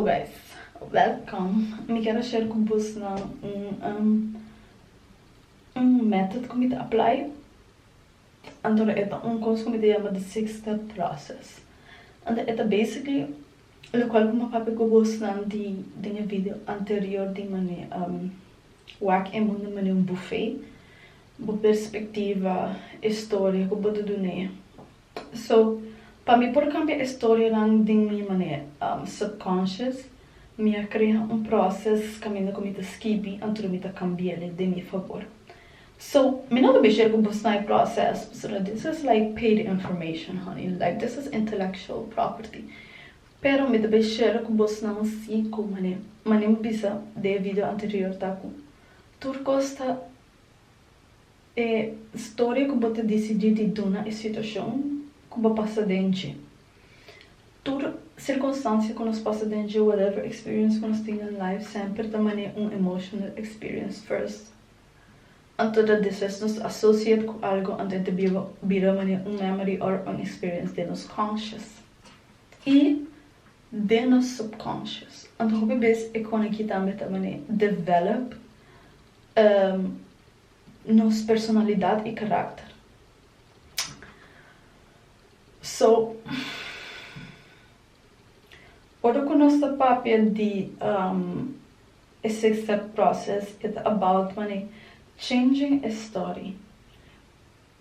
Guys, welkom! Mi quiero share cu bus nan un un method cu mi ta apply. Anto e ta un cos cu mi ta yama the six step process. Anto e ta basically locual cu mi a papia cu bus nan di den e video anterior di mane wak e mundo mane un buffet. Bo perspectiva, e storia cu bo ta dun'e So, pa mi por cambia e storienan den mi manera, subconscious, mi a crea un proces caminda cu mi ta skibi anto mi ta cambiele den mi favor. So, mi no ta bish'é cu bos na e proces, pasobra this is like paid information honey, like this is intellectual property, pero mi ta bish'é cu bos na un si cu mane, mane mi bisa den e video anterior ta cu tur cos ta. E storia ku bo ta disidí di duna e situashon ku bo pasa den dje. Tur sirkunstansia ku nos pasa den dje, whatever experience ku nos tin den life, semper ta man'é un emotional experience first. Anto dat despues nos ta associate ku algu anto e ta biba bira man'é un memory òr un experience den nos conscious i den nos subconscious. Anto hopi bes e kona ki tambe ta man'é develop. nos personalidad y carácter. So, ora cu nos ta papia di e six step process e ta about mane changing e story.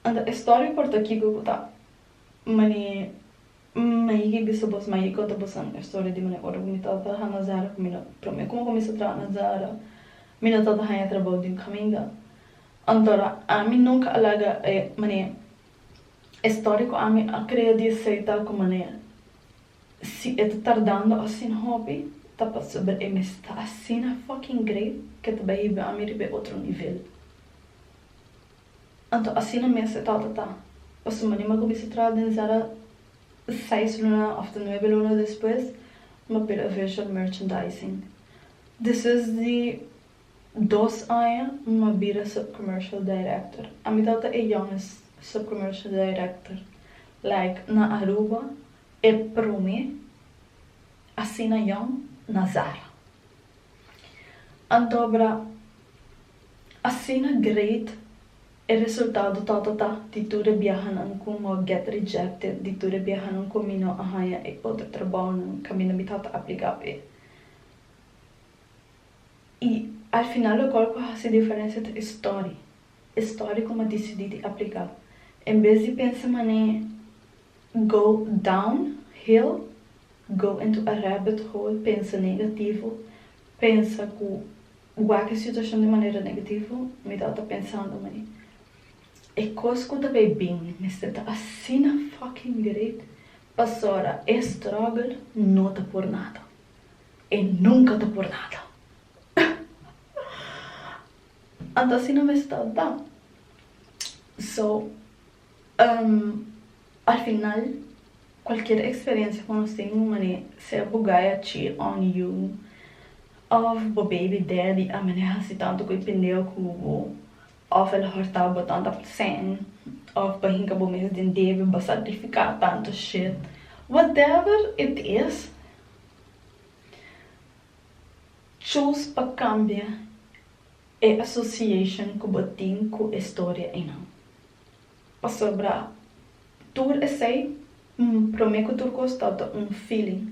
Anto e story por ta kico cu ta mane. Mi a higi bisa bos, mi a higi konta bos nan e storia di manera ora ku mi tabata traha na Zara, ku mi no, promé ku mi a kuminsá traha na Zara, mi no tabata haña trabou den kaminda. Antora, ami nunka a laga e manera, e storia ku ami a krea di esei ta ku manera, si e ta tardando asina hopi, ta pasobra e mes ta asina fucking great ku e ta bai hiba ami riba e otro nivel. Anto asina mes e tata ta. Pasobra di mi a cuminsa traha den Zara seis luna of ta nuebe luna despues, mi a pela visual merchandising. Despues di dos aña mi a bira subcommercial director. Ami tabata e youngest subcommercial director like na Aruba, e prome asina young na Zara. Anto bra Asina great e resultado tatata di tur e biahanan ku no a get rejected, di tur e biahanan ku mi no a haña e otro trabounan kaminda mi tata apliká p'e. I al final lokal ku a hasi diferensia ta e story, e story ku mi a disidí di apliká. En bes di pensa man'e go down hill, go into a rabbit hole, pensa negativo, pensa ku Wak situashon di manera negativo, mi tabata pensando ma e kos ku ta bai bin mester ta asina fucking direkt pasobra e struggle no ta por nada. E nunka ta por nada. Anto asina mester ta. So. Al final, kualkier eksperensia ku nos tin un manera, sea bo gaya chi on yu òf bo baby daddy a mane hasi tantu koe pindeo ku bo òf el a hòrtá bo tanta p'sèn òf bo a hinka bo mes den debe, bo a sakrifiká tantu shit, whatever it is, choose pa kambia. e association cu bo tin cu e storia eynan. Pasobra tur esey, prome cu tur cos ta ta un feeling.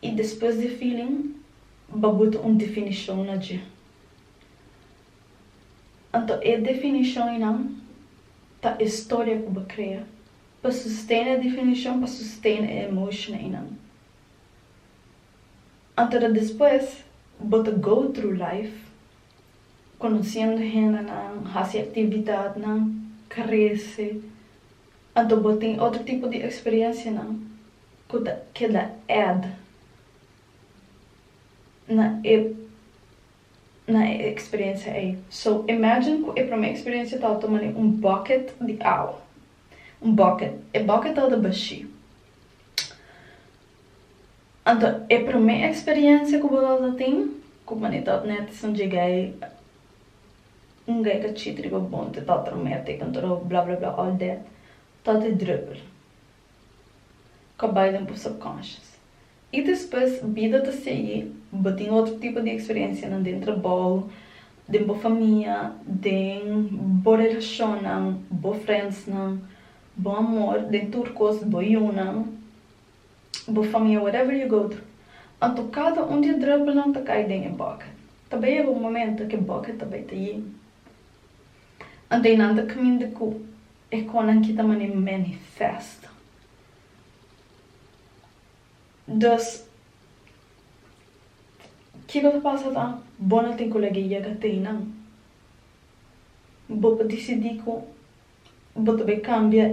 Y despues di e feeling babuta un definicion na dje. Anto e definicion eynan ta e storia cu bo crea pa sustain e definicion, pa sustain e emotion eynan. Anto ta despues bo ta go through life conociendo hendenan, haci actividadnan, crece, anto bo tin otro tipo di experiencianan cu ta keda add na e na e experiencia ey. So imagine cu e prome experiencia tabata mane un bucket di awa, un bucket, e bucket tabata bashi. Anto e promé eksperiencia ku bo tabata tin ku pone tot netes un djegai un gai ka chit riba bon te tot rometic con todo bla bla bla all that tot e druppel ka bai den bo subconscious i despues bida ta sigui bo tin otro tipo di eksperencianan den trabou den bo famia den bo relashonnan bo friendsnan bo amor den tur kos bo yunan. bo famia whatever you go through. Anto kada un di e druppelnan ta kai den e bucket. Ta bai yega un momento ke bucket ta bai ta yin. Anto einan ta kmindi ku e konan kita mané manifest. Dus kiko ta pasa ta bo no tin ku laga e yega ta einan. Bo por disidi ku. Bo ta bai cambia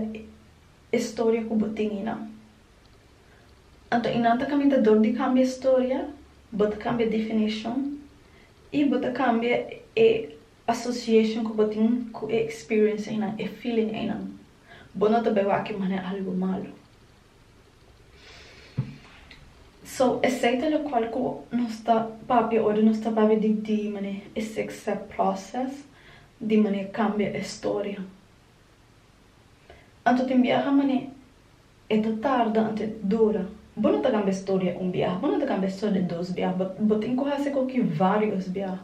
e storia cu bo tin inan. Anto inan ta caminda dor di cambia e storia, bo ta cambia definition y bo ta cambia e association cu bo tin cu e experience eynan, e feeling eynan. Bo no ta bai wak e mane algo malo. So, esei ta locual cu nos ta papia ora nos ta papia di di manera e six step process di manera cambia e storia. Anto tin biaha manera e ta tarda anto e ta dura. Bo no ta cambia e storia un biaha, bo no ta cambia e storia dos biaha, bo bo tin cu haci cu ki varios biaha.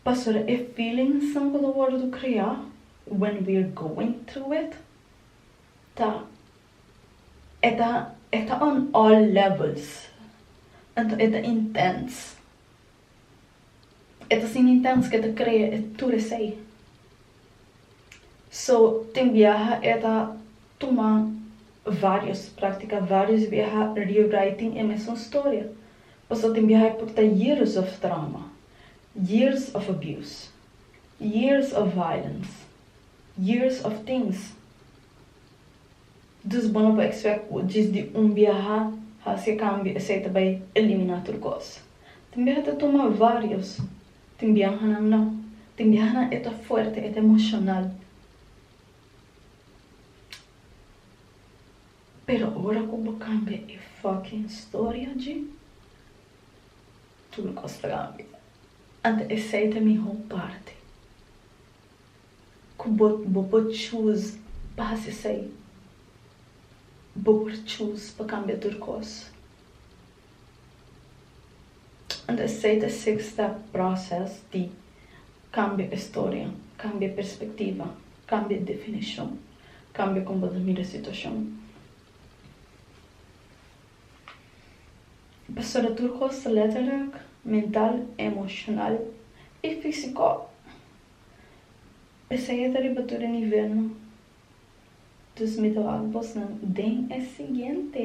Pasobra e feelingsnan cu ta wordo crea when we're going through it. Ta e ta e ta on all levels anto e ta intens e ta sin intens ke ta krea e tur esei so tin biaha e ta tuma varios praktika varios biaha rewriting e mesun storia paso tin biaha e por ta years of trauma years of abuse years of violence. Years of things. Dus bo no por expect cu djis di un biaha haci e cambio esey ta bay elimina tur cos. Tin biaha ta tuma varios, tin biahanan no. Tin biahanan e ta fuerte, e ta emocional. Pero ora cu bo cambia e fucking storia dji, tur cos ta cambia. Ante esey ta e miho parti. ku bo bo por chus pas esei. Bo por chus pa kambia tur kos. Anto esei ta e seksta proses di kambia e storia, kambia e perspektiva, kambia e definishon, kambia kon bo ta mira e situashon. Pasobra tur kos ta letterlik, mental, emoshonal i fisiko. Esei ta riba tur e nivelnan, dus mi ta wak bosnan den e siguiente.